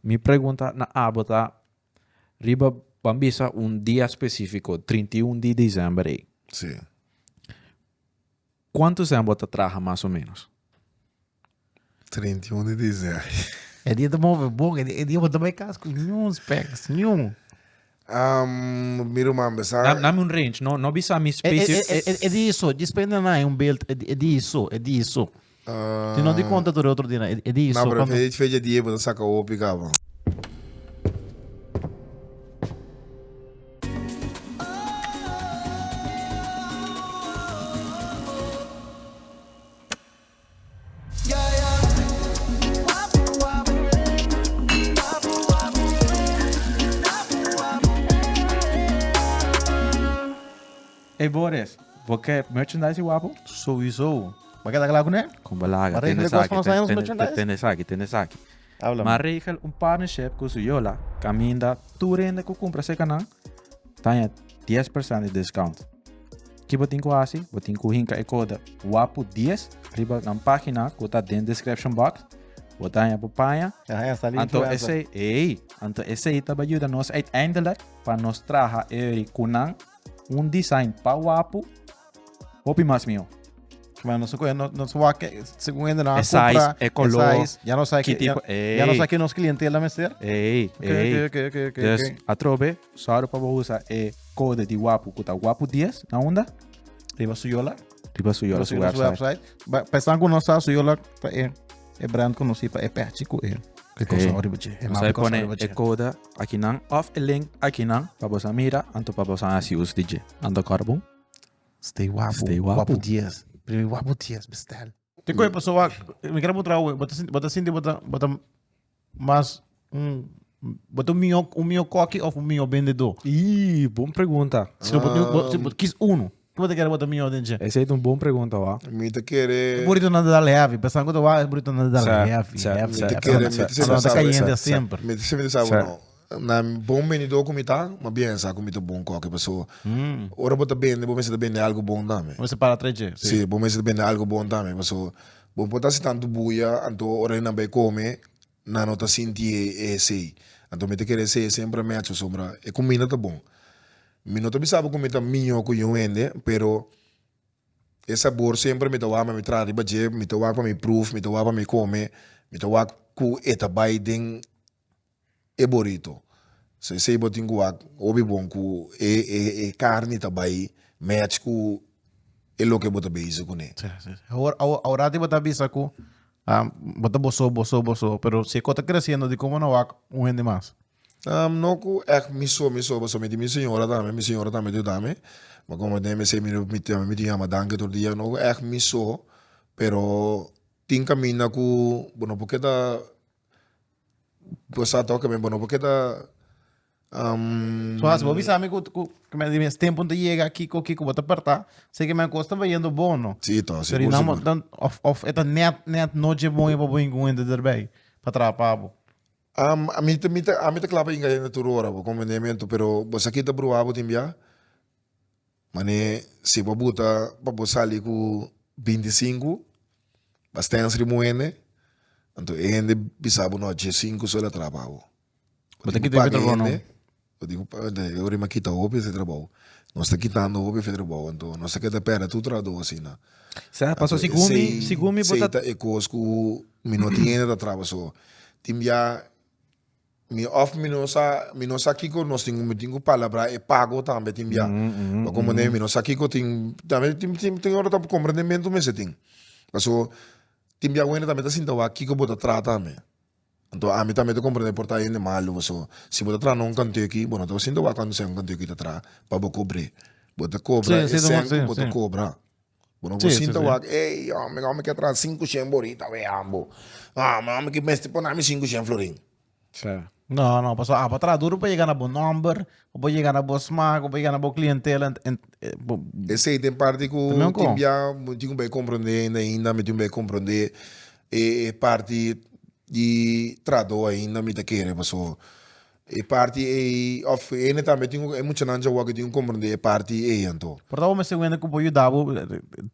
Mi pregunta na abo ta riba ban bisa un dia specifico, trinta i un di december ey. Sí. Cuanto semp bo ta traha mas o menos? Trinta i un di december. E dia ta move bon, e dia bo ta bay cas cu niun specs, niun. Am mi ruman besa. Dam dam un range, no no bisa mi space. E e e di eso, dje spende na hay un beeld e e di eso, e di eso. Tin no di konta tur e otro di na e di eso. Na pero fecha fecha di e bo ta saka hopi kaba. Ey Boris, bo ke merchandise di Wapo? Souizo. Bo a keda kla kuné? Con bo laga, tene esaki, tene esaki, tene esaki. ma regel un partnership cu su yola caminda tur hende cu cumpra cerca nan taña dies percent di discount. Ki bo tin cu haci? Bo tin cu hinca e code WAPU10 riba nan pagina cu ta den description box, bo taña bo paña, anto esey, ey, anto esey ta bay yuda nos uiteindelijk pa nos traha eri cu nan un design pa Wapu, Hopi mas mihó. Bueno, nos coge, no, nos va que, según el, no Esa compra, es, e color, esa es, ya no sabe que, tipo, ya, ya no sabe que nos clientela mester. Ey, okay, ey. Okay, okay, okay, okay, dus, okay. atrobe, solo para usar e code di guapo, que está guapo 10, na onda? Riba su yola. Riba su yola, su website. website. Ba, pensando que no sabe su yola, pa e, e brand conocido, pa e patchy, que e. Que cosa hey. riba che. E mapa cosa riba che. E code, aqui nan, of e link, aqui nan, para vos mira, anto para vos así us di je. Ando carbon. Stay wapu. Stay wapu. Wapu dies. Primi wapu dies bestel. Tin koe paso wak. Mi kere bo trawe. Bota sinti bota bota mas un bota un mio un mio koki of un mio bendedo. Ii, bon pregunta. Si lo bot bot si bot kis uno. Ki bota kere bota mio den che. Esa e un bon pregunta wa. Mi ta kere. Burito na dal heavy. Pesan ku ta wak e burito na dal heavy heavy. Mi ta kere mi ta semi ta sabo. Mi ta semi ta sabo no. Na bon bendidor ku mi ta, mas bien sa ku mi ta bon koke paso ora bo ta bende bo mester ta bende algu bon tambe. Bo mester para tres dje. Si, bo mester ta bende algu bon tambe paso bo por ta hasi tantu bulla anto ora e nan bai kome nan no ta sinti e sei. Anto mi ta kere e sei semper a mecho asombra e kuminda ta bon. Mi no ta bisa bo ku mi ta miño ku yon hende pero e sabor semper mi ta wak ma mi traha riba dje, mi ta wak pa mi pruf, mi ta wak pa mi kome, mi ta wak ku e ta bai den e borito so esey bo tin cu wak hopi bon cu e e carni ta bay match cu e loke bo ta bezig cu ne. Si si si awor awor aworati bo ta bisa cu ah bo ta boso boso boso pero si e cos ta creciendo di como na wak un hende mas? No cu echt mi so mi so pasobra mi tin mi señora tambe mi señora tambe ta yuda mi ma como mi esey mi no mi tambe mi tin yama danki tur dia no cu echt mi so pero tin caminda cu bo no por keda bo sa toca mi bo no por qué ta um, So as bo bisa mi cu cu que me dimes tempo te llega aquí co que como te parta, sé que me acosta va yendo bono. sí to Pero seguro dan seguro dan of of eta net net noche boy pa boy con gente erbij pa trabajar pa bo. Um, a mi te mi te a mi te claro pa inga hende tur ora bo conveniemento pero bo sa kita bruha bo tin bia Mane si bo buta pa bo sali ku binti sinku pa stens rimu hende anto e hende bisa bo no dje sinku so la traba bo bo tin ku paga e hende bo tin ku paga e hende yori mi a kita hopi ese trabou nos ta kitando hopi ese trabou anto nos ta keda perde tur trahadó asina anto esei ta e kos ku mi no tin hende ta traba so tin bia. Mi of mi no sa mi no sa kiko nos tin mi tin ku palabra e pago tambe tin bia pa komprende mi no sa kiko tin tambe tin tin tin ora ta komprendementu mester tin paso tin bia wende tambe ta sinta wak kiko bo ta traha tambe anto ami tambe ta komprende por ta hende malu paso si bo ta traha na un kantu aki bo no ta sinti wak kuandu esei un kantu aki ta traha pa bo kobre bo ta kobra esei ku bo ta kobra. Bo no por sinta wak, ey hombre, mi hombre quier traha cinco shen borita weambo. No, mi hombre mester por nami cinco shen florin. No, no, pasobra abo a traha duro pa yega na bo nomber, o pa yega na bo smaak, o pa yega na bo clientela. Ent, ent, e bo. Esey ta e parti cu tin bia mi tin cu bay comprende hende ainda, mi tin cu bay comprende e parti di trahador ainda mi ta kere, pasobra. E parti ei, òf hende tambe tin un, e muchanan djawoa ke tin un komprondé e parti ei anto. Por ta bo mester un hende ku por yuda bo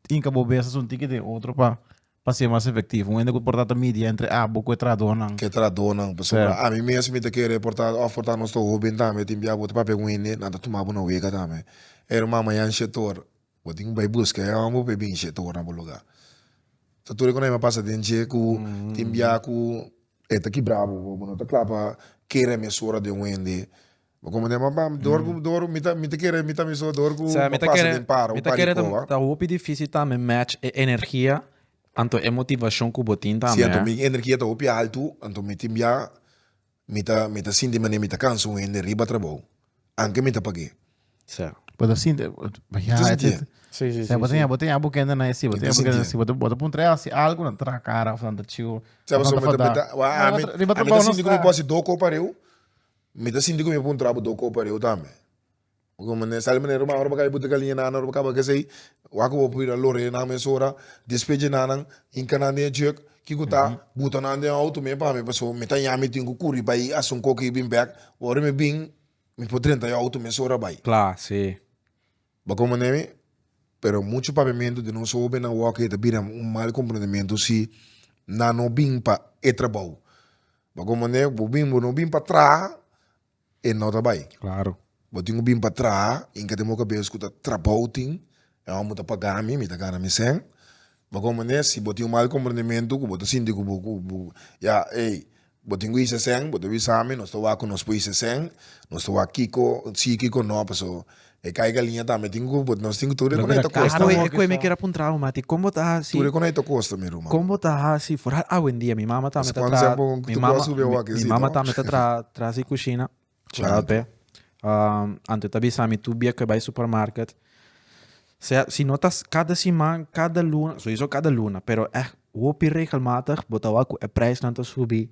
hinka bo bes asunti ki den otro pa pa ser mas efektivo. Un hende ku por ta ta media entre abo ku e trahadonan. Ku e trahadonan. Pasobra ami mes mi ta kere por ta, òf por ta nos ta hóben tambe tin bia bo ta papia ku un hende nan ta tuma bo na wega tambe. Ey, Ruman Mayan Shetor. Bo tin cu bay busca e homber bo pe binshi e torna bo lugar ta tur e con a pasa den dje cu tin bia cu e ta kibra bo bo no ta cla pa kere a mes ora den wende bo como den papá door cu door mi ta mi ta kere mi ta mi so door cu mi ta pasa den para un par di coba ta hopi dificil tambe match e energia anto e motivacion cu bo tin tambe si anto mi energia ta hopi alto anto mi tin bia. Mi ta mi ta sinti manera mi ta cansa un hende riba trabou, anke mi ta pag'é. Sa. Bo ta sinti Mi ta bañá sinti e. et Sí, sí, sa sí, bo ta sí. ña bo ta ña bukende na esei, bo Mi ta ta ña sinti bukende e. na esei, bo ta bo ta puntra e hasi algu nan ta traha kara of nan ta chiu of Sa nan paso ta mi ta mi fadá. ta wa No, a riba mi tra- riba a mi ta trabou no sinti ku mi por sta. hasi do kopa reu, mi ta sinti ku mi por puntrabo do kopa reu tambe. Bo mane sa di manera rumana ora bo kaya butica liña nan ora bo caba gesey wak bo por bira lore nan mesora despeje nan nan hinca nan den e jurk kico ta buta nan den auto me pami pasobra me ta yaña me tin cu curi bay haci un cokie bin bek ora me bin me por drenta yo auto mesora bay cla si bo con mane mi pero mucho papiamento den nos hopi nan wak e ta bira un mal comprendimiento si nan no bin pa e trabao bo con mane bo bin bo no bin pa traha e no ta bai Claro. bo tin cu bin pa traha y inca tin bo cabeza cu ta trabou tin e homber ta paga mi mi ta gana mi cen bago manera si bo tin un mal comprendimentu cu bo ta sinti cu bo cu bo ya ey bo tin cu hicier cen bo ta bisa mi nos ta wak cu nos por hicier cen nos ta wak kico si kico no pasobra E caiga liña tambe tin cu but nos tin cu tur e coney ta costa. Ahora Acu e mi kier a puntra bo mati con bo ta haci. Tur e coney ta costa mi ruman. Con bo ta haci for a awendia mi mama tambe ta traha. Scuanza tempo cu tu bo a subi e wak e si no. Mi mama tambe ta traha tras di cushina. Claro pe. Anto e ta bisa mi tur bia cu e bay supermarket sea si no ta cada siman cada luna sowieso cada luna pero eh hopi regelmatig bo ta wak cu e prijsnan ta subi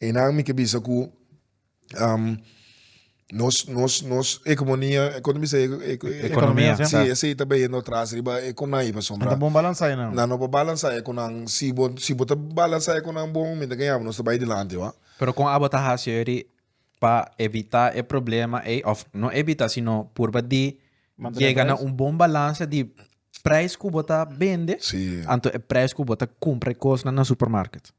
Enan mi ke bisa ku nos nos nos ekomonia kon ta bisa ekonomia si esei ta bayendo atras riba e konai pasobra nan ta bon balansa enan nan no por balansa e konan si bo si bo ta balansa e konan bon mi ta kaña bo nos ta bai dilanti wak. Pero kon abo ta hasi eri pa evita e problema ei òf no evita sino purba di yega na un bon balansa di preis ku bo ta bende anto e preis ku bo ta kumpra e kosnan na supermarket?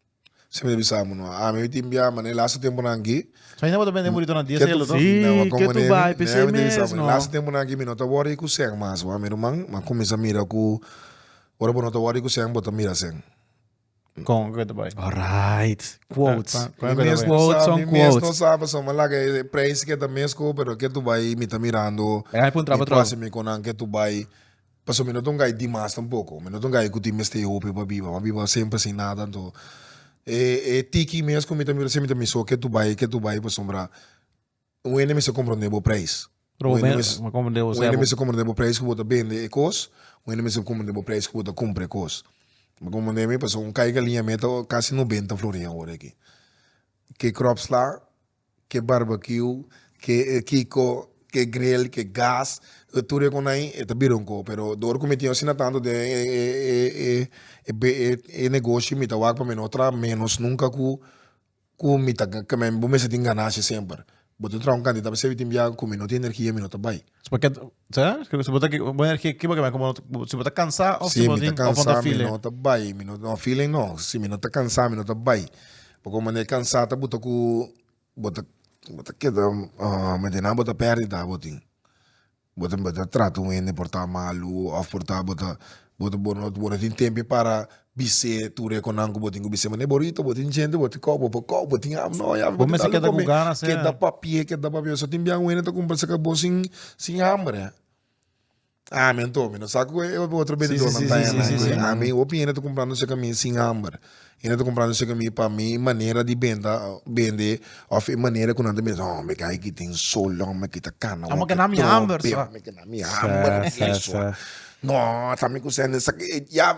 Siempre ta bisa amo no a ami a tin bia ma den laatste temponan aki Sa inda bo ta bende burito na diesel lo to? Si, na wak como ke tu nemi bai nemi pesey ta bisa mes, amo den no. laatste temponan aki mi no ta wori ku sèn mas wan mi ruman mi a kuminsha mira ku ora bo no ta wori ku sèn bo ta mira sèn Kon ke ta bai? Alright quotes Kon- kon- mi kon ke ta mes bai? no Quotes sa on mi mes no quotes. sa pasobra mi laga e prijs ke ta mes ko pero ke tu bai mi ta mirando Ai puntra mi patrou. proximi konan ke tu bai. Paso mi no ta un gai dimas tampoco, mi no ta un gai cu tin mester e hopi pa biba, mi a biba semper sin nada anto e e tiki mes cu mi ta mira siempre mi ta miso ke tu bay e ke tu bay pasobra un hende mester comprende bo prijs, un hende mes un hende mester comprende bo prijs cu bo ta bende e cos, un hende mester comprende bo prijs cu bo ta cumpra e cos, mi comprende mi paso un caiga linea mia ta casi noventa florin awor aki, ke crops la. Ke barbecue, ke kiko, ke grill, ke gas, e tur e kon ai e ta bira un koho, pero de ora ku mi tin asina tantu den e negoshi mi ta wak pa mi no traha menos nunka ku ku mi ta bo mester tin ganashia semper bo tin traha un kantidat pasobra tin bia ku mi no tin energia mi no ta bai. Será? Ke si bo ta ki- bo er ke- kiba ke bai komo bo- si bo ta kansa of si Si bo mi tin ta of bo ta kansa, mi file. no ta bai. Mi no, no file no. Si mi no ta kansa, mi no ta bai. Pasobra ku mane kansa ta buta ku bo ta bo ta keda mende nan bo ta pèrdida abatin. Bo ta bo ta trata un hende por ta malu of por ta bo ta bo ta bo no tin temp para Bis'é tur e konan ku bo tin ku bis'é manera bo rito bo tin djente bo tin kòk bo por kòk bo tin ham no ya bo tin dal di kome keda papia keda papia so tin bian wene ta kumpra sa ka bo sin sin hambre a mi anto mi no sa ku e otro benditornan ta hennan ku a mi hopi hende ta kumprando seki a mi sin hambre hende ta kumprando seki a mi pa mi manera di benda bende of e manera ku nan ta bisa hòmber ke ayki tin sol hòmber aki ta kana hòmber aki tromp ame ke na mi hamber no ta mi kusé nen sa ke ya.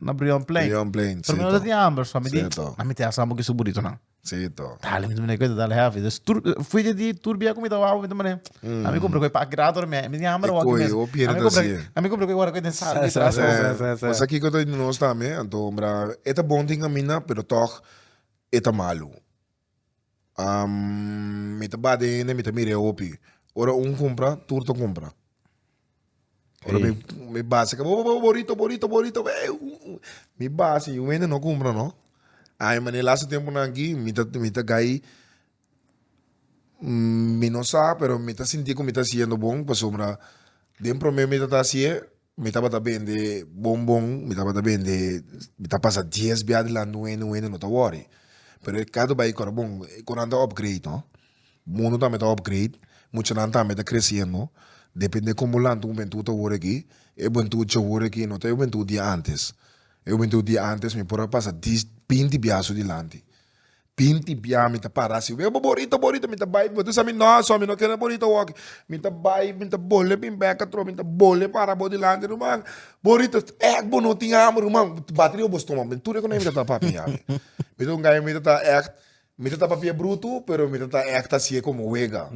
Na Brion Plain. Brion Plain, Pero mi no ta tin amber, so mi di, Sito. na mi te asa mo ki su burrito nan. Sito. Dale, mi di mene, kwenta dale heavy. Dus tur, fui de di tur bia ku mi ta wou, mi di mene, na mi kumpra ku e pak grato na mi, mi tin amber E wou ki koi, mes. o pierde Na mi kumpra, así. na mi kumpra ku e wara ku e den sal, Sa, sa, sa, sa, sa, sa. Wasa kiko ta di nos tambe, anto hombra, e ta bon tin caminda, pero tog e ta malu. mi ta bada hende mi ta mira e hopi ora un cumpra tur ta cumpra ora mi mi basa kaba oh borito borito borito mi basa y un hende no cumpra no ay mané laatste temponan aki mi ta mi ta guy mi no sa pero mi ta sinti cu mi ta haciendo bon pasobra den prome mi tata haci'e. Mi tabata bende bon bon, mi tabata bende, mi ta pasa dies bia adelanti un hende, un hende no ta worry, pero e kado bai kor bon, e konan ta upgrade no, mundo tambe ta upgrade, muchanan tambe ta creciendo, depende como lanta un buentud ta wor aki, e buentud dje wor aki no ta e buentud di antes, e buentud di antes mi por a pasa dies, binti bia asu dilanti, Bin tibiá, mi ta para si, wee bo borito, borito, mi ta bai, bo ta sa mi, no so, mi no kere borito awor, mi ta bai, mi ta bole bin bek atrò, mi ta bole para bo dilanti, ruman, borito, èk bo no tin hamber, ruman, bati riba bo stomak, mi tur e konai mi ta ta papia ya, mi, mi ta un gay mi ta ta èk, mi ta ta papia brutu, pero mi ta ta èk ta hasié komo wega.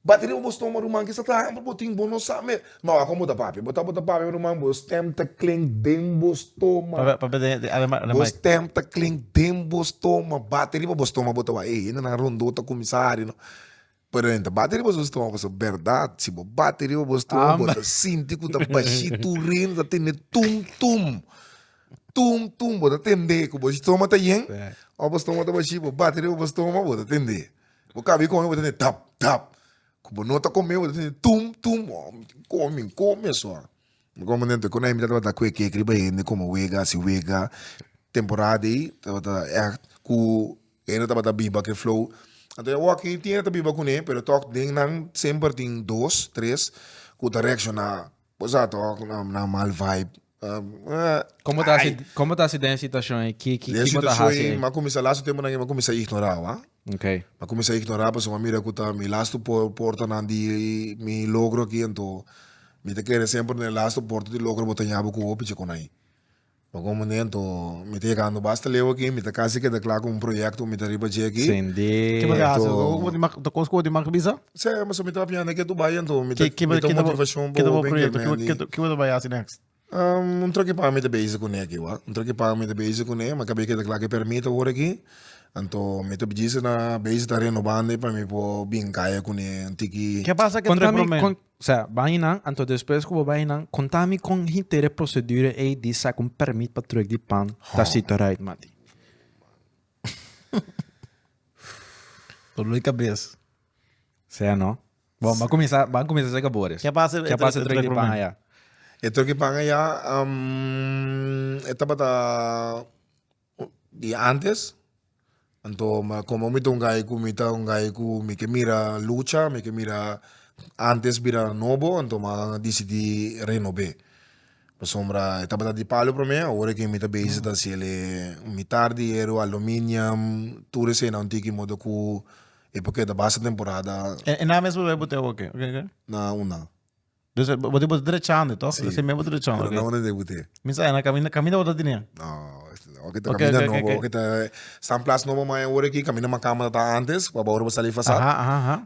Bati riba bo stómago, ruman, kisa ta hende bo tin bo no sa mes. No, a kon bo ta papia? Bo ta bo ta papia, ruman, bo stèm ta klink den bo stóma. Papia den den ademai ademai. Bo stèm ta klink den bo stóma. Bati riba bo stóma, bo ta wak, ey, hendenan rondó ta kuminsá hari no. Pero hende ta bati riba su stóma pasobra bèrdat, si bo bati riba bo stóma bo ta sinti ku ta bashí tur rene, ta tene tum tum, tum tum. Bo ta tende ku bo stóma ta yen, ò bo stóma ta bashí, bo bati riba bo stóma bo ta tende. Bo ka bi come bo ta tende tap tap ku bo no ta come bo ta tende tum tum oh mi tin come mi come aso ah mi come den toy konai mi ta tabata kue kek riba hende como wega asi wega temporada dey tabata echt ku hende no tabata biba ke flow anto ya wak tin hende ta biba kune pero tok den nan semper tin dos tres ku ta reacciona bo sa tok nan mal vibe. Como ta hasi, como ta hasi den situacion ei? Ki, ki, kiko ta hasi ei? Ma cuminsa lastu tempo nan ei, ma cuminsa ignora wak. Ok. Ma cuminsa ignora pasobra ma mira cu ta mi lastu por, portanan di mi logro aki ento mi ta kere semper den e lastu porta di logro bo ta yabi cu hopi djicuna ei. Pa cu momento mi ta yegando basta leu aki, mi ta casi keda cla cu un proyecto cu mi ta riba dje aki. Sindi. Kiba ta hasi? Cu cu bo ta, cu cu bo ta make bisa? Sea ya mi ta piensa ke tu bai anto mi ta motivacion pa hopi germendi. Kibo ta bai hasi next? Um un troke paña mi ta bezi cune aki wak un troke paña mi ta bezi cune ma cabe keda cla ke permit awor aki anto mi ta bisi na bezi ta renobando pa mi por bin caya cune un tiki. Ke pasa ke troke prome? Contami sea bai nan anto despues cu bo bai nan contami con henter e procedura ey di saca un permit pa truck di pan ta sito right mati. Dolor di kabes. Sea no. Bon, ba comienza, ba comienza seca bores. Ke pasa e- Ke e- pasa e- e- trek di e- pan e- aya? E trek di pan aya, am, e tabata di antes. Anto, ma como mi ta un guy cu, mi ta un guy cu mi ke mira lucha, mi ke mira antes bira nobo, anto mi a disidí renob'é. Pasobra e tabata di palu promé, awor e ke mi ta bezi ta hasi el'e mi tardi, hierro, aluminium, tur eseinan un tiki modo ku e por keda basta temporada. E nan mes bo bai bot'e awa ke? Na unda. Dus e bo ta drechando tog? Esei mes bo ta drechando. Pero na unda dei bot'e? Mi sa na kaminda, kaminda bo ta tene? No, awor ke ta kaminda nobo, awor ke ta stan plas nobo mai awor aki, kaminda mas kamba ta antes, pa bo awor bo sali fasa.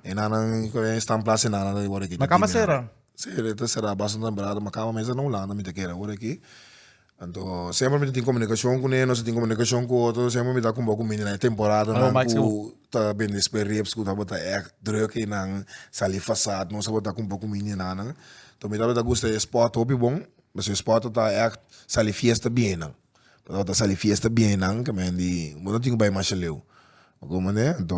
E nannan ku e stan plas e nannan awor aki. Na kamba sera? Sera e ta sera basta nan berada ma kaba mester na Hulanda mi ta kere ora aki anto semper mi ta tin comunicacion cune nos ta tin comunicacion cu otro semper mi ta cumbia cu mi den e temporada nan cu ta bende sperieps cu tabata eck druk y nan sali fasad nos tabata cumpla cu mi den nan to mi tabata gusta e sport hopi bon pasobra e sport ta eck sali fiesta bien nan mi tabata sali fiesta bien nan kimen di bo no tin cu bai masha leu a guma ne anto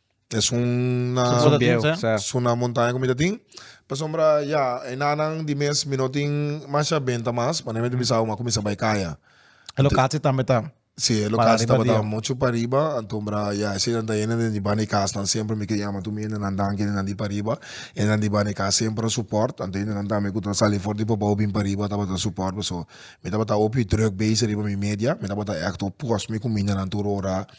Es un na es una montaña cu mi ta tin. Pasobra ya, e nanan di mes mi no tin masha benta mas, pa no mester bisa abo, a cuminsa bay caya. E locatie tambe ta. Si, e locatie tabata muchu pariba, antombra ya esey nan ta hende den di banda e casnan, semper mi ke yama tur mi hende nan danki hende nan di pariba, hendenan di banda e cas semper a support, anto hendenan tambe cu ta sali for di Papou bin pariba tabata support mi, so mi tabata hopi druk bezig riba mi media, mi tabata act op cos mi cu mi hindenan tur ora.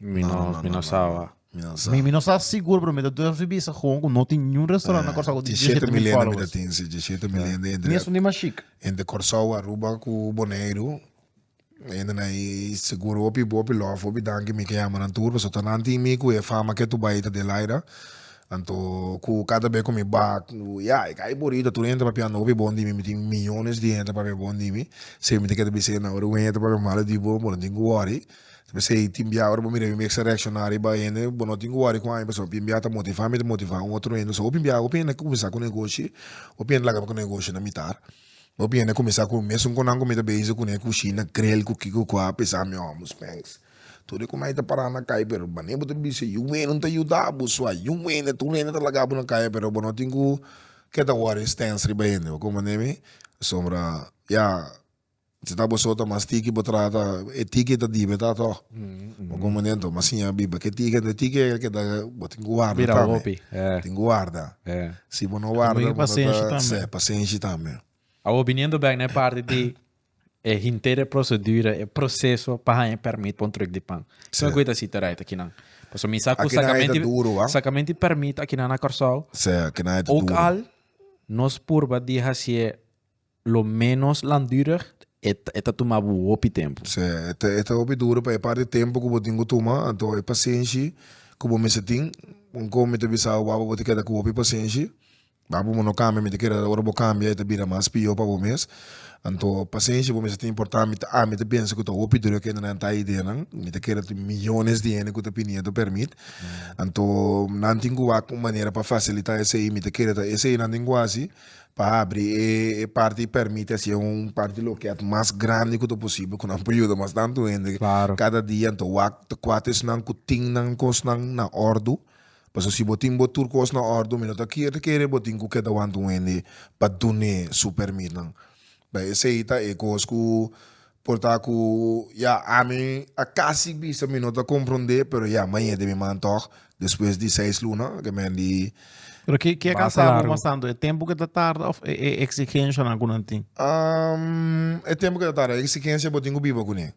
Mi no, No, no, mi no, no no, saba. Mi no sa. Mi, mi no sa sigur, pero mi ta durf di bisa gewoon ku no tin niun restaurant na Curaçao ku tin 17 17 mil milende mi ta followers. tin, si, 17 milende Mi entre, es un di mas chic. entre Curaçao, Aruba ku Boneiru. Hende na i sigur hopi hopi lòf, hopi danki mi ke yama nan tur, pasobra ta nan tin mi ku e fama ke tu bai ta Adelaida. Anto ku kada be ku mi ba ku ya e kai Borita tur hende papia no hopi bon di mi, mi tin millones di hende papia bon di mi. Semi ta keda bisa hende na ora wen e ta papia malo di bo, bo no tin ku wòri. P'esei, tin bia ora bo mira bin mester reacciona riba hende, bo no tin cu worry cu aña pasobra tin bia ta motiva mi ta motiva un otro hende, so hopi bia hopi hende a cuminsa cu negoshi, hopi hende a laga cu negoshi na mitar, hopi hende a cuminsa cu mes un conan cu mi ta bezig cune cushina creel cu kico cu a pesa mi ojos spens, tur e cona a ta para na cay pero mane bo ta bisa yu wende un ta yuda bo so a yu wende tur hende ta laga bo na caya pero bo no tin cu ke ta worry stens riba hende, bo comprende mi? Pasobra ya. Si ta bo sota mas tiki bo trata e tiki ta dibe ta toh bo komo den toh mas siña biba ke tiki ende tiki e ke ta bo tin ki warda tambe tin ki warda si bo no warda bo no ta se pasenshi tambe. Awo biniendo bek na e parti di e henter e prosedura e proseso pa haña e permit pa un truk di pan kiko ku e ta siti right akinan pasobra mi sa ku sakamenti sakamenti permit akinan na Kòrsou uk al nos purba di hasié. Lo menos langdurig e e ta tuma bo hopi tempu. Sí, e ta e ta hopi duru pa e parti tempu ku bo tin ku tuma, anto e pasenshi ku bo mester tin, un kon mi ta bisa bo wak pa bo ta keda ku hopi pasenshi, wak pa bo no kambia mi ta kere ora bo kambia e ta bira mas pior pa bo mes, anto pasenshi bo mester tin por ta ami ta ami ta pensa ku ta hopi duru kende nan ta ideanan, mi ta kere tin millones di hende ku ta pinia tu permit, anto nan tin ku wak un manera pa fasilita esei, mi ta kere ta esei nan tin ku hasi, Pa habri e e parti y permiti haci e un parti loket mas grandi cu ta posible cu nan por yuda mas tanto hende cada dia ento wak ta cuate esnan cu tin nan cosnan na ordu pasobra si bo tin bo tur cos na ordu mi no ta kier ta kere bo tin cu keda wanta un hende pa dun'e su permit nan. Bay esey ta e cos cu por ta cu ya ami a casi bisa mi no ta compronde pero ya mañe di mi man toch despues di seis luna ke men di Pero ki ki a causa bo mas tanto e tempo cu ta tarda of e e exigencianan cu nan tin? E tempo cu ta tarda e exigencia bo tin cu biba cune.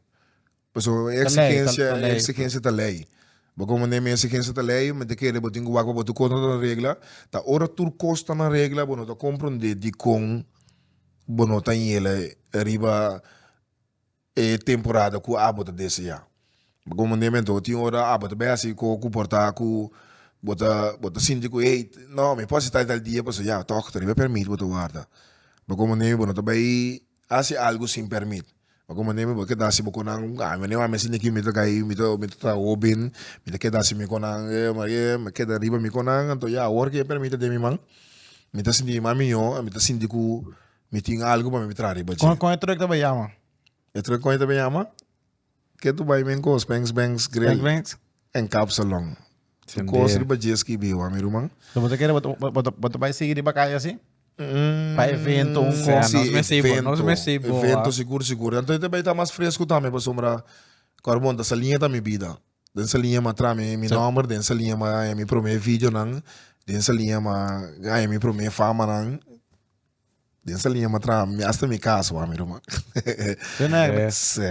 Pasobra e exigencia e exigencia ta ley bo komo ne mi exigencia ta ley mi ta kere bo tin ku wak pa bo tur kontra nan regla ta ora tur kos ta nan regla bo no ta komprende dikon bo no ta yela riba e temporada ku abo ta desea bo komo ne mi anto tin ora abo ta bai hasi ko ku por ta ku bo ta bo ta sinti ku ey no mi por hasi tal y tal dia pasobra ya tok ta riba permit bo ta warda bo komo ne mi bo no ta bai hasi algu sin permit pa como neme bo keda hasi bo con nan a mene a mester niki mita ga ahi mita mita ta traha hoben mita keda hasi mi con nan e maria e me keda riba mi con nan anto ya awor ke permit ta den mi man mita sinti mi man miyo a mita sinti cu mi tin algu pa mi traha riba dje. Con con e truck ta bay jama? E truck con e ta bay jama? Ke tu bai men kos Bengs Bengs Grill? Bengs Bengs en Kapsalon. Tu kos riba dje skibi wan mi ruman. So bo ta kere bo ta bai sigui riba kai asi? Pa evento un kos? Si evento, evento sigur sigur. Anto e ta bai ta mas fresku tambe pasobra kor bon ta Salinge ta mi bida. Den Salinge mi a traha mi nomber, den Salinge mi a haya mi prome videonan, den Salinge mi a haya mi prome famanan. Den sa liña ma traha, mi asta mi kas wak mi ruman. Su negro. Se,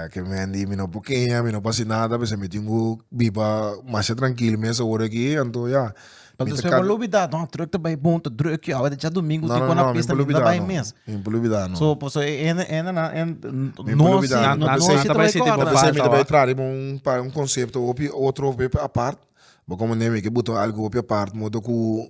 ke mi wen di mi no por keña, mi no por hasi nada, p'esei mi tin ku biba masha trankil mes awor aki, anto ya. Pero despues bo lo bida, no, drùk ta bai bon, ta drùk aki, awe ta dja domingu, tin kona pista, mi no ta bai mes. No, no, no, mi no por lo bida no, mi no por lo bida no. So, paso e hende, hende nan, hende, Mi no por lo bida no, no, no, nan ta bai sinti bo falta wak. P'esei mi ta bai traha riba un pa, un konsepto hopi otro hopi apart, bo komprende mi, ke bo ta algu hopi apart, modo ku.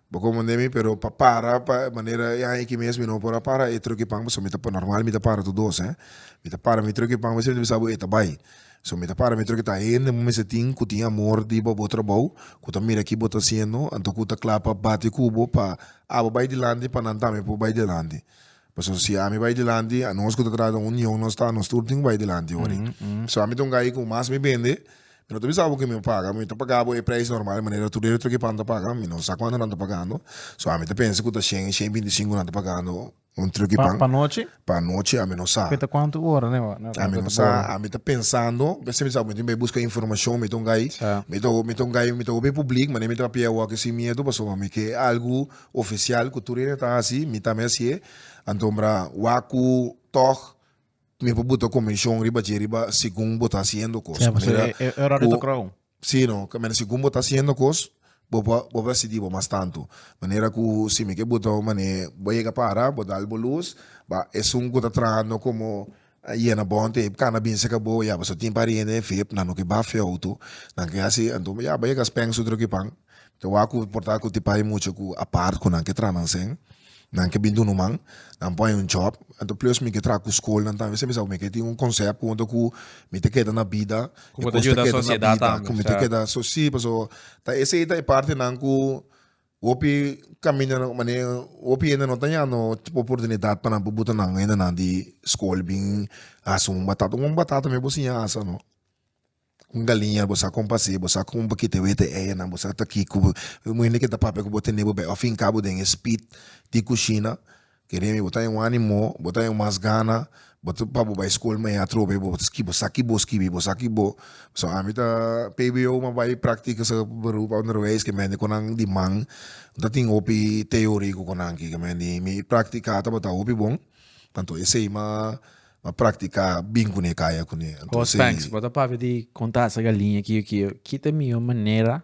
Bo comand'é mi, pero pa para pa e manera e aña aki mes mi no a por a para e trucki pan pasobra mi ta normal mi ta para tur dos, mi ta para mi trucki pan pasobra mi ta bisa e ta bai, so mi ta para mi trucki ta hende bo mester tin cu tin amor di bo trabou cu ta mira ki bo ta haciendo anto cu ta cla pa bati cu bo pa abo bai dilanti pa nan tambe por bai dilanti Pasobra si ami bai dilanti, anos ku ta trata un niñon nos ta nos tur tin ku bai dilanti wòrdu. Pasobra ami ta un gay ku mas mi bende, mi no ta bisa bo ku mi a paga, mi ta paga bo e preis normal, e manera tur debe tur ki pan ta paga, mi no sa kuantu nan ta pagando, so ami ta pensa ku ta shen, shen binti i sinku nan ta pagando un truk di pan. Pa anochi? Pa anochi ami no sa. Kuinta kuantu ora na e rato di bor? Ami ta pensando, mi ta bisa ku mi tin bai buska informashon, mi ta un gay, mi ta hopi publik, mane mi ta papia awor aki sin miedu, pasobra mi ke algu Ofisial ku tur hende ta hasi, mi tambe hasié, antombra wak ku tòg mi por buta komenshon riba dje riba segun bo ta hasiendo kos. Siempre, so Manera e, e horario ta ku krou. Sí, no, ke manera segun bo ta hasiendo kos, bo por bo por a sidí bo mas tantu. Manera ku si mi ke buta un manera bo a yega para, bo dal bo lus, ba esun ku ta trahando komo A yena bond e cana binse ca bo ya pasobra tin pariente en feb nan oki baf e auto nan ke haci anto ya bay yega spang su droki pan te wak cu porta cu ti pai mucha cu apart cu nan ke traha nan seen nan ke bin dunu man nan por haña job anto plus mi ke traha cu school nan tambe mi sa mi ke tin un concept cu anto cu mi te keda na bida mi te keda na bida cu mi te keda so si pasobra ta esey ta e partenan cu Hopi caminda no mane hopi hende no ta yando oportunidad pa nan pupu ta nan hende nan di school been hasi un batata un batata me bo siña hasa no un galiña bo sa con pacia bo sa con bakiti wee te eyenan bo sa ta kiko bo hende ke ta papia ku bo tene bo bek afinka bo den e speed di cushina. Kende mi bo ta den un animo bo ta den mas gana bo ta pa bo bai school mei atrobe bo bo sa ki bo skibi bo sa ki bo so ami ta pbo ma bai practica sa beroep onderwijs ke mende ku nan di man no ta tin hopi teori ku nan ki ke mende mi practica tabata hopi bon tanto esei ma ma practica bin kune kaya kune. Entonces. Bo ta papia di kontrata sa galiña kiyo kiyo ki ta miyo manera.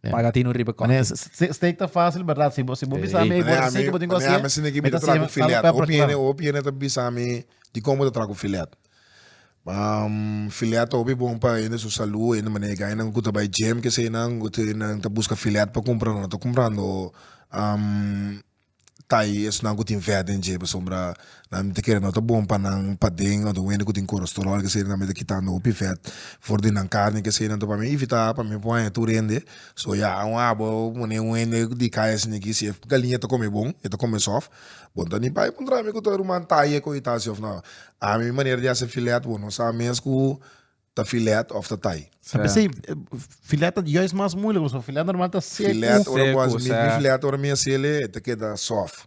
Yeah. Paga tino riba Mané, kote. s- s- steak ta fácil, verdad? Si bo, si bo Sí. bisa mi, ei, Mané, bo a sei mi, que bo tin mané, a mi sin de ki mi ta tra ku filet. Hopi hende, filet. hopi hende ta bisa mi dikon bo ta tra ku filet. Am, filet ta hopi bon pa hende su salú, hende mané kai nan ku ta bai gym, kesenan, ku te nan ta buska filet pa kumpranan, nan ta kumprando am, ta i esnan ku tin vèt den dje pasobra nan ta kere no ta bon pa nan paden òf wende ku tin korosterol kesei nan mester kitando hopi vèt for di nan karni kesei nan ta wòrdu mi ivitá pa mi no por haña tur hende so ya aun abo awo pone un hende di kaya sini aki si e galiña ta kome bon e ta kome sòf bo ta ni bai puntra mi ku ta ruman ta i e koyo ta si òf nò a mi manera di hasi filèt bo no sa mes ku ta filet of ta tai. A pesey, filet ta juist mas moeilijk, pasobra filet normal ta seco. Filet, ora bo haci, mi filet ora mi hacele, e ta keda soft.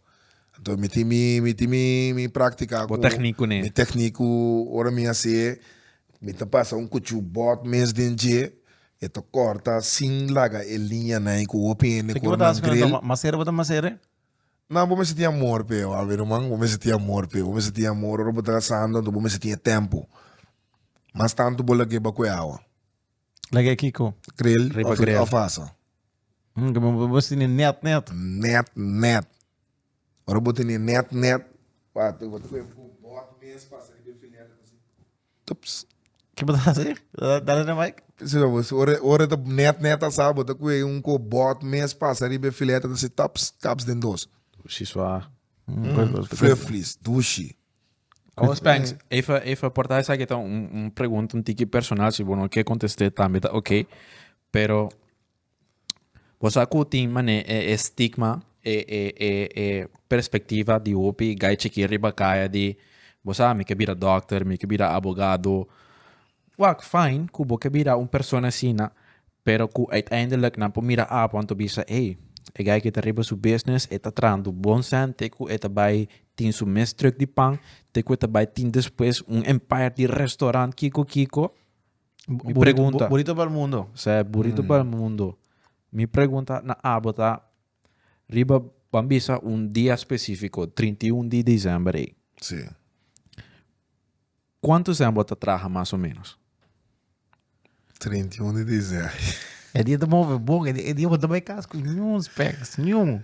Enton mi tin mi, mi tin mi, mi practica cu. Bo techniek cu ne. Mi techniek cu ora mi haci'e, mi ta pasa un cuchu bot mes den dje, e ta corta sin laga e liñanan cu hopi hende cu ora nan grill. Masera bo ta masera? Nan, bo mester tin amor p'e, Alvin Roman, bo mester tin amor p'e, bo mester tin amor. Ora bo ta casando, bo mester tin e tempo. Mas tantu bo lag'é bak'é awa. Lag'é kiko? Krel Riba of, krel. of asa. Mm, que bo- bo tiene net, net. Net, net. Ora bo tene net, net. Wacht, bo ta kue ku bord mes pasa riba e filet en así. Tups. Que bo ta hacer? Da- Dale na mic. Si no, pues, ora, ora ta net, net asa, bo ta kue un ku bord mes pasa riba e filet en así, tups, kaps den dos. Shi swa. Flufflies, dushi. Awor Spanks, efa, efa porta esaki ta un, un pregunta un tiki personal, si bo no ke kontest'e tambe ta ok. Pero, bo sa ku tin mane e, e stigma, e, e, e, e perspektiva di hopi gai chikí riba kaya di, bo sa, mi ke bira dòkter, mi ke bira abogado, Wak fijn ku bo ke bira un persona asina, pero ku uiteindelijk nan por mira apo anto bisa, ey, e guy ke ta riba su business e ta trahando bon sènte ku e ta bai tin su mes truk di pan te ku e ta bai tin despues un empire di restaurant kiko kiko. Mi pregunta. Burito pa el mundo. Sí, burito pa el mundo. Mi pregunta na abo ta riba ban bisa un dia specifico, trinta i un di diciember ey. Sí. Cuanto sea bo ta traha mas o menos? Treinta i un di diciembre. E dia ta move bon, e dia bo ta bay cas cu niun specs, niun.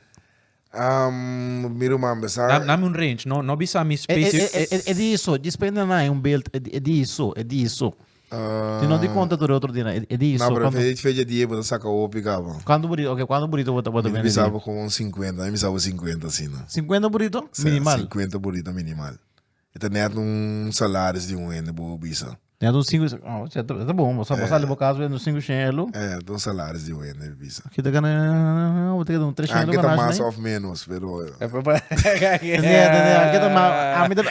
Um, mi ruman be sa. Dame un range, no, no bisa mi specific. E dia so, just pa e nan haya un beeld, e dia so, e dia so. Tin no di conta tur e otro dia nan, e dia so. No, pero fecha dia bo ta saca hopi caba. Cuanto burrito, ok, cuanto burrito bo ta bende? Mi bisa bo como un cincuenta, mi bisa bo cincuenta asina. Cincuenta burrito minimal? Cincuenta burrito minimal. E ta net un salaris di un hende bo bisa. Net un sinku shen. Oh, e ta bon. Bo sali bo kas bo hende un sinku shen e lo. E ta un salaris di un hende e bisa. Ki ta gana bo ta gana un tres shen e lo. Aki ta mas of menos pero.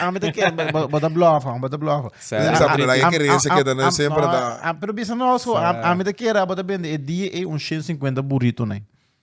Ami ta kere bo ta blofa bo ta blofa. Bo sa aprenna e kerensia ke ta nan semper ta. Pero bisa nos ho ami ta kere bo ta bende e dia ei un shen singkuenta burrito nei.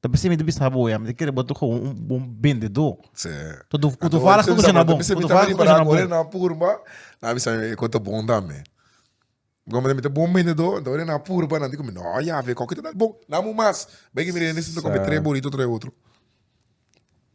Ta bisa mi ta bisa bo ya, mi ta kere bo ta koba un bon bendedor. Sí. Cu tu, cu tu fala cu tu shina bon, cu tu fala cu tu shina bon. na purba, na bisa mi e cu ta bon tambe. Cu mi ta bon bendedor, enta ora na purba nan di cu mi, no, Yahve, cu cu ta dal bon? Dam un mas. Bay cu mi rende si mi ta come tres burrito, tres otro.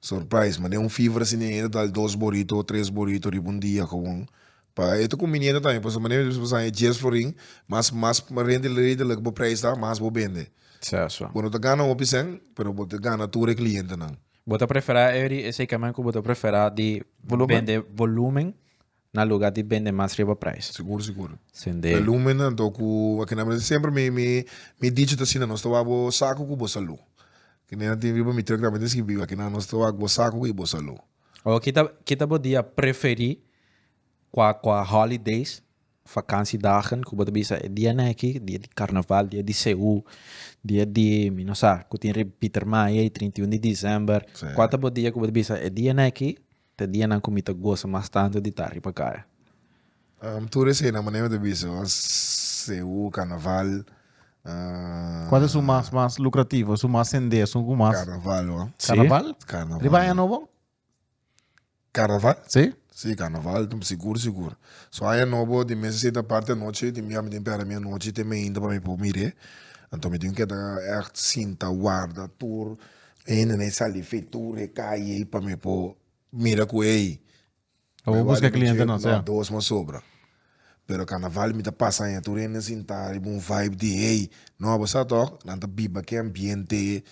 Surprise, ma den un fever asina e ta dal dos borito o tres borito riba un dia gewoon pa e ta conveniente tambe pasobra manera mismo sa e dies florin mas mas rente redelijk bo prijs ta mas bo bende bo no ta gana hopi sèn pero bo ta gana tur e clientenan. Bo ta prefera Eddy esei camen cu bo ta prefera di bende volumen Na luga di bende mas riba prijs. Sigur sigur. Sende. La lumen nan to ku a kende manera semper mi mi mi dichi ta asina nos ta wak bo saku ku bo salu. Kende nan tin riba mi truck tambe ta skibi a kende nos ta wak bo saku i bo salu. Oh kita kita bo di a preferi kua kua holidays vakansi dagen ku bo ta bisa e dia nan aki dia di karnaval dia di sehu dia di mi no sa ku tin rip Pieter Maia i trintiun di december kua ta bo dia ku bo ta bisa e dia nan aki. Te dianan ku mi ta gosa mas tantu di ta riba kara. Tur esei na manera mi ta bisa nos CU carnaval. Kual ta su mas mas lucrativo, su mas sendé, esun ku mas. Carnaval hoor. Carnaval? Si. Carnaval. Riba aña nobo? Carnaval? Si. Si carnaval sigur sigur. So aña nobo di mes esei ta parti anochi di mia mi tin pera mia anochi te meinta pa mi por mire. Anto mi tin keda echt sinta warda tur E hendenan e sali fe tur e calle ey pa me por mira cu ey Lo bo busca cliente nos, sea. dos mas sobra. Pero carnaval mi ta pasa aña tur e hende sinta riba un vibe di hey, no abo sa toc nan ta biba ki ambiente,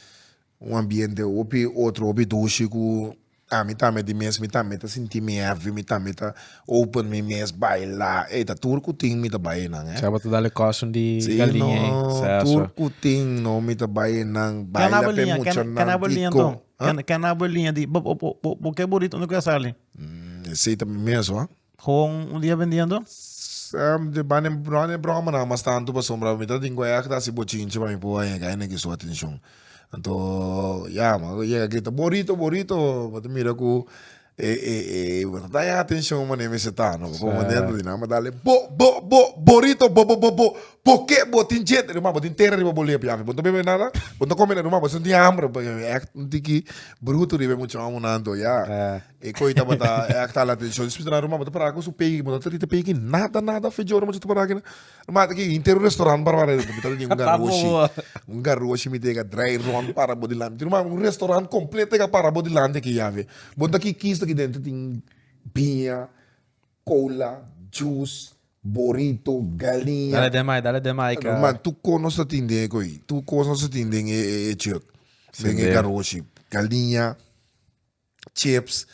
un ambiente hopi otro hopi dushi cu Ah mi tambe di mes mi tambe ta sinti mi heavy mi tambe ta open mi mes baila ey ta tur cu tin mi ta bay enan eh. Sea bo ta dale coson di galinha ey sea so. Tur cu tin no mi ta bay enan baila pe muchanan di con Ken a bo e liña Ken a bo e liña di bo bo bo bo ke burit unda cu a sali. Esey tambe mes hoor. Con un dia vendiendo? Di banda no e broma nan mas tanto pasobra mi ta tin cu aya cu ta haci bochinchi pa mi por a yega y na giso atencion anto ya mi a yega grita borito borito bo ta mira cu e e e bo ta daña atencion mane mi si ta no como nan tin nan a dale bo bo bo borito bo bo bo bo porque bo tin dje ruma bo tin tera riba bo lep yafe bo no ta bebe nada bo no ta come nada ruma bo senti hambre porque mi act un tiki bruto riba e muchanan anto ya. E koi tabata e a ktal atenshon. Despus nan Roma bo ta para ku su pei, bo ta trita pei ki nada, nada fejo Roma cu ta para kina. Roma ta ki inter un restaurant para para mi ta bini un garoshi, un garoshi mi tega drai rond para bo dilanti. Roma un restaurant completo tega para bo dilanti aki ya ve. Bo ta ki kis aki dentro tin biña, cola, juice, borito, galiña. Dale den mai, dale den mai ka. Roma tur cos nos ta tin den e koi, tur cos nos ta tin den e chirk, den e garoshi, galiña. chips,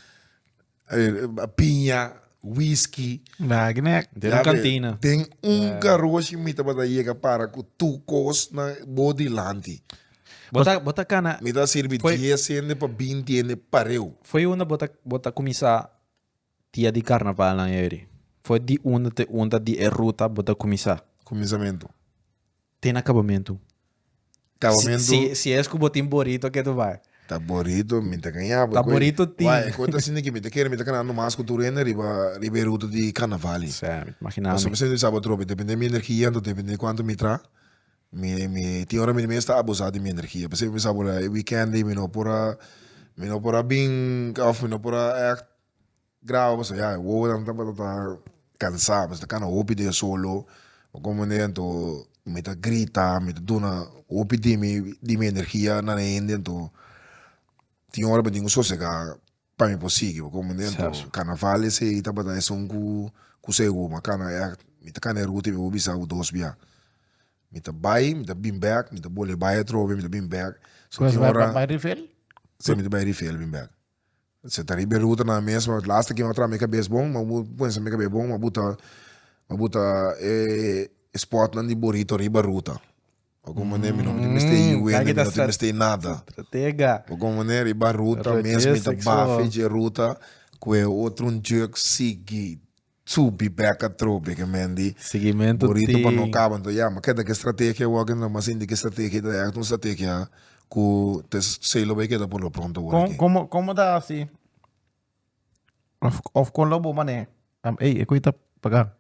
piña, whisky. Den un kantina. Den un karoshi mi tabata yega para ku tu kosnan bo dilanti. Bo ta kana. Mi ta sirbi dies hende pa binti hende pareu. Fo'i unda bo ta kuminsá Dia di carnavalnan eri. Fo'i di unda te unda di e ruta bo ta cuminsa. Cuminsamentu. Te na cabamentu. Cabamentu. Si es cu bo tin Borito ke to bay. Ta Borito mi ta caña bo. Ta Borito tin. Why? Ecoe ta sinti ke mi ta kere mi ta cana no mas cu tur hende riba e ruta di carnaval. Sey, mi ta imagina mi. Pasobra mi sa bo tropi depende mi energia anto depende cuanto mi tra. Mi mi tin ora mi ta mester abusa di mi energia pasobra mi sa ku e weekend mi no por a mi no por a bin of mi no por a act graba pasobra ya e wowo nan tabata cansa mi ta cana hopi den solo mi com wen den tohó mi ta grita mi ta duna hopi di mi di mi energia na hende tohó tin ora mi tin cu sosega. pa mi por sigui bo como dentro carnaval esey tabata esun cu seguro ma cana yac mi ta cana e ruta y mi a bisa bo dos bia mi ta bay mi ta been back mi ta bole bay atrobe mi ta been back so tin ora si mi ta bay rifel been back si ta riba e ruta nan mesmo el laster kian a traha me cabeza bon ma bo pensa me cabeza bon ma bo ta ma bo ta e spotnan di borito riba ruta Algun maner mi no tin mester i wende, mi no tin mester i nada. Algun maner i bai ruta mes, mi ta bai afe dje ruta ku e otro un djëk sigui subi bèk atrobe ke men di burito pa no kaba. Anto ya, mi keda ku e strategia wòk ei no, mi a sinti ku e strategia ei ta èkt un strategia ku ta esei lo bai keda por lo pronto awor aki. Komo ta hasi? Of of con lo bo mané. Am ey, e cuita paga.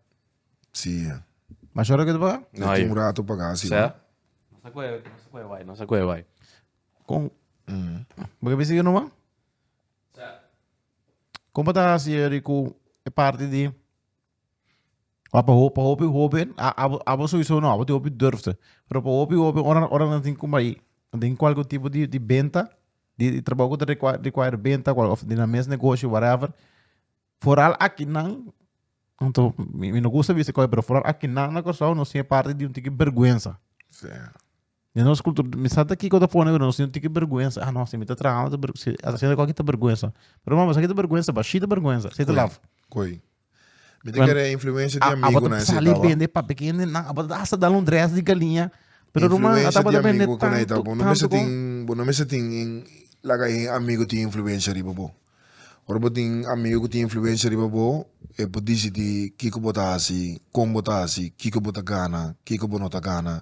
Sí, eh. Mas ahora que te paga? No, Tin yo. un rato paga así. Sea? No sa kue, no sa kue wai, no sa kue wai. Con, Mm. porque pensé que no man? Sea? Como ta así eri cu e parte di Ora pa hopi hopi hoben a abo abo sowieso no abo tin hopi durfde pero pa hopi hopi ora ora nan tin kuma i den kualke tipo di di benta di di trabou ku ta rekua rekuair benta kual of di na mes negoshi whatever foral akinan anto mi mi no gusta bisa koe pero foral akinan na Kòrsou no siña parti di un tiki bèrgwensa. Den nos cultura, mi sa ta kiko ta pone, pero nos tin un tiki bergwensa. Ah, no, si mi ta trahando, ta berg- si a ta haciendo algo aki ta bergwensa. Pero mama, esaki ta bergwensa, ba shi ta bergwensa, si ta Koe, laf. koe. Mi ta Wen- kere influencia di A- amigo abata nan esei sali taba. bende papia ken den nan, abata hasta dal un dress di galiña. Pero Ruma, Influencia ata di abata bende amigo ku nan e tanto, taba. Bo no mester tanto kon- tin, bo no mester tin in laga e amigo tin influencia riba bo. Ora bo tin amigu cu tin influencia riba bo e por dici di kico bo ta haci, con bo ta haci, kico bo ta gana, kico bo no ta gana,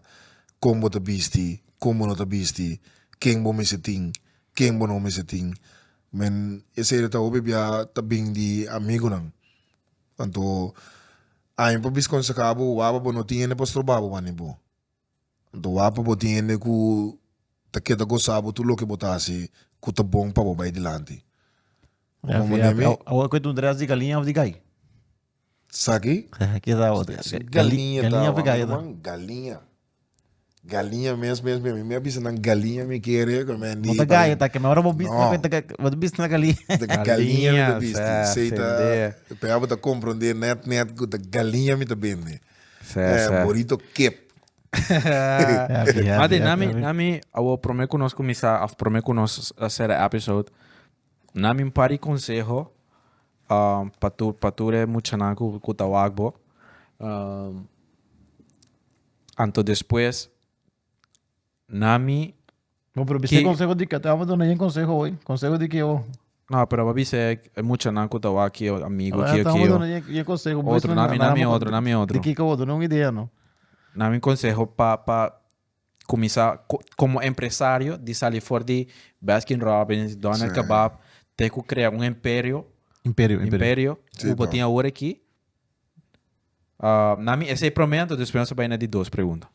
con bo ta bisti, con bo no ta bisti, ken bo mester tin, ken bo no mester tin, men esey ta hopi bia ta bin di amigunan anto ain pa bisconsehabo waba bo no tin hende pa stroba bo wani bo. Bo ta wak pa bo tin hende ku ta keda gosa bo tur loke bo ta hasi ku ta bon pa bo bai dilanti. Bo kon manera mi? Awor ku e tundera es di galiña of di gai? Saki? Keda awor. Galiña ta awor. Galiña ta awor. Galiña. Galiña mes mes mes. Mi a bisa nan galiña mi kere. No ta gai ta ke mi. Ora bo bisa nan kuenta ke bo ta bisa nan galiña. Ta galiña mi ta bisa. Sey ta. Pea bo ta komprende net net ku ta galiña mi ta bende. Sè, Eh, sè. bonito kip. Happy, happy, Mati, happy, nami, happy. nami, awo prome ku nos kumisa, of prome ku nos uh, sera episode, nami un pari konseho um, pa tu, pa tur e muchanan ku, ku ta wak bo. Um, anto despues, Nami. Bo por bisa conseho di kata bo duna yen conseho hoy. Conseho di ki ho. No pero bo bisa e muchanan ku ta wak kio amigo kio kio. Bo duna yen conseho. Otro nami nami otro nami otro. Di kiko bo duna un idea no. Nami conseho pa pa kumisa komo empresario di sali for di Baskin Robbins, Doner Kebab te ku krea un emperio. Imperio imperio. Imperio ku bo tin awor aki Na mi esei prome anto despues nos a bai na di dos pregunta.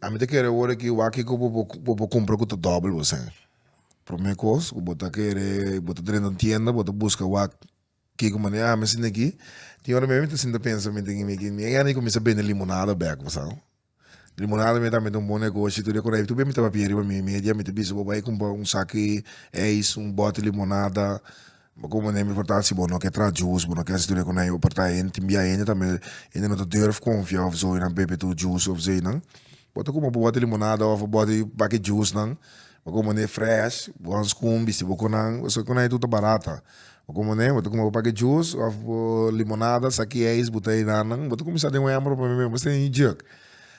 A mi ta kere ora aki wak kico bo bo por cumpra cu ta dobel bo sey. Prome cos cu bo ta kere bo ta drenta un tienda bo ta busca wak kico manera ami a sinti aki tin ora mi ta sinta pensa mi tin mi aki mi a yandi cu mi sa bende limonada bek bo sa. Limonada mi ta mete un bon negoshi tur dia ku tur bem mi ta papia riba mi media mi ta bisa bo bai kumpa un saki eis un boti limonada bo komo ne mi for ta si bo no ke traha jus bo no ke hasi tur dia ku nan por ta hende tin bia hende tambe hende no ta durf konfia of so inan bebe tur jus of so inan bo ta kumpa bo boti limonada of bo boti baki jusnan bo komo ne fresh bo han skun bisti bo ku nan pasobra ku nan e tur ta barata Bo komo ne? Bo ta kuma bo pake jus of bo limonada sa ki eis bo ta e nannan bo ta kumisa den un hember bo mimia bo stende djek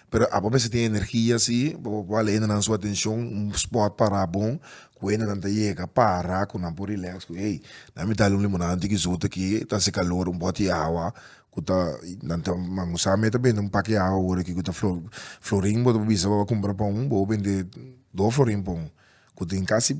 pero abo mester tin energia si pa bo wal hendenan su atencion un spot para bon ku hendenan ta yega para ku nan por relax ku ey nan a mi dal un limonada un tiki zote aki ta haci calor un bot di awa ku ta nan ta man sa me ta bende un pake awa wor aki ku ta flo florin bo ta bisa bo a kumbra pon bo bende do florin pon ku tin casi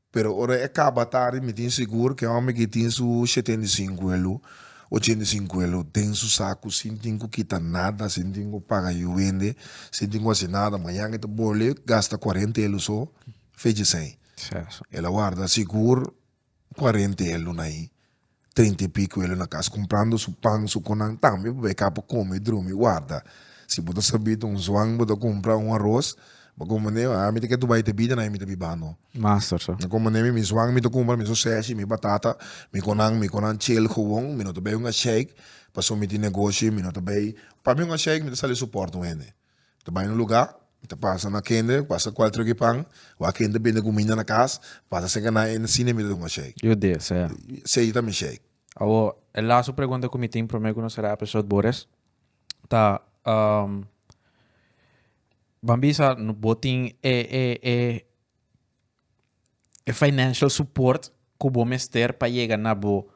Pero ora e kaba tardi mi tin sigur ku e hòmber ke tin su shetenta i sinku elu, ochenta i sinku elu den su saku sin tin ku kita nada, sin tin ku paga yu wende, sin tin ku hasi nada, mañan e ta bole gasta kuarenta elu so fecha esei. Sherson. El a warda sigur kuarenta elu na ahi. Treinta i piku e lo na kas kumprando su pan, su konan tambe pa e ka por kome, drumi, warda. Si bo ta sabit un zuan bo ta kumpra un aros, bo komo manera mi, a mi ta ke Dubai ta bida na e mi ta biba no. Master so. Na komo manera mi, mi zuan mi ta kumpra mi soseshi, mi batata, mi konan, mi konan chel gewoon, mi no ta bay un asheik pasobra mi tin negoshi, mi no ta bay, pa mi un asheik mi ta sali su pòrta un hende. Ta bai na un lugá, ta pasa na kende, ta pasa kual tròk di pan, wak kende bini guminda na kas, ta pasa serka na e, na sina mi ta duna un shake. Yo desea. Sey ta mi shake. Awor, e laso pregunta ku mi tin promé ku nos sera episode bo res, ta, ban bisa no bo tin e, e, e, e financial support ku bo mester pa yega na bo.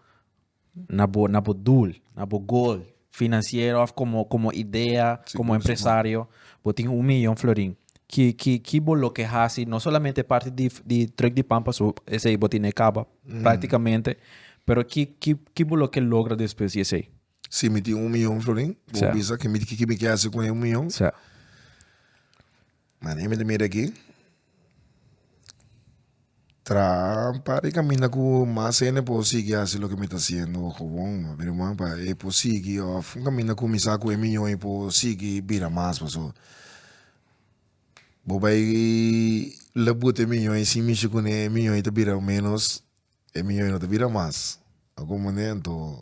na bo na bo doel, na bo goal financiero of como como idea, sí, como empresario, bo tin un millón florin. Ki ki ki bo lo que hasi no solamente parte di di truck di pampa so ese bo tiene caba mm. prácticamente, pero ki ki ki bo lo que logra después de ese. Si mi tin un millón florin, bo bisa que mi ki mi que hasi con un millón. Sí. Mane mi ta mira aki traha un par di caminda cu mas hende por sigui haci loke mi ta haciendo o gewoon mi bira muha pa e por sigui of un caminda cu mi sa cu e mi yoi por sigui bira mas pasobra bo bay labuta e mi yoi sin mishi cu ne e mi yoi ta bira menos e mi yoi no ta bira mas ta comprende toh.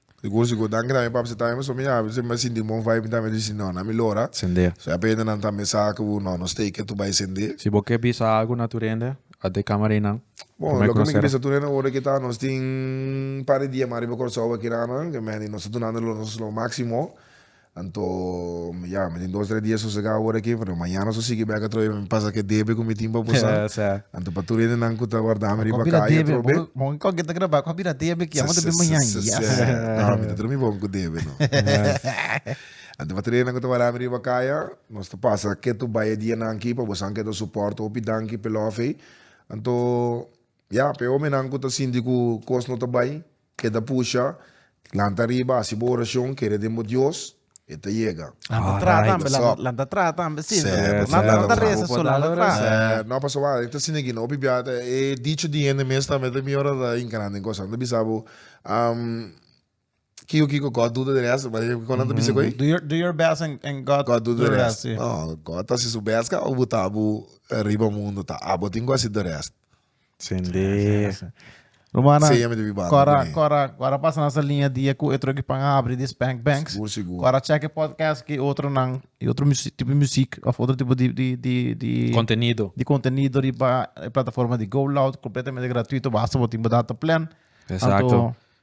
Dikos di Godan ke tambe papasa tambe pasobra mi a habri mi a sinti un bon vibe mi tambe disi no nan mi lo ora Sendé. so a pende nan tambe sa ke bo no nos take ke tur bai sendé. Si bo ke bisa algu na tur hende a de camera ei nan Bon Prome loke mi ke conocer. bisa tur hende ora ke ta nos tin un par di dia mas riba Kòrsou aki nan ke Manny nos ta dunando lo nos lo máximo Anto ya mi tin dos tres dia sosega ora aki pero mañana so sigui bek atrobe pa mi pasa ke debe ku mi tin pa bosa anto pa tur hendenan ku ta warda mi riba kai atrobe bon koke ta graba akoba bira debe ki amo ta bin mañan ya no mi ta drumi bon ku debe no anto pa tur hendenan ku ta warda mi riba kai nos ta pasa ketu baya dianan aki pa bosan ketu a suport hopi danki pe lof ei anto ya pe hominan ku ta sinti ku kos no ta bai. Keda pusha, lanta ariba, hasi bo oracion, kere den bo Dios, e ta yega. Lanta traha tambe, lanta traha tambe, si, lanta no ta reza so, lanta traha. No, pasobra wak, e ta asina aki, hopi bia ta e dicho di hende mes tambe ta bior ta hinca den cosa, nan ta bisa bo, kiko kiko, God do the rest, kico nan ta bisa cu ei? Do your best and God God do the rest, si. No, God ta hasi su best ka, o bo ta bo riba mundo ta, abo tin cu hasi the rest. Sende. Rumannan. Seña mi debí banda Cora, kuné. cora, cora pasa nasa linea dia cu etro ki pan abri di Spank Banks. Sigur, sigur. Cora check e podcast ki otronan, y otro musi- tipo di muziek of otro tipo di, di, di, di, Contenido. di contenido riba e plataforma di Go Loud, completamente gratuito, basta bo tin bo data plan. Exacto. Anto-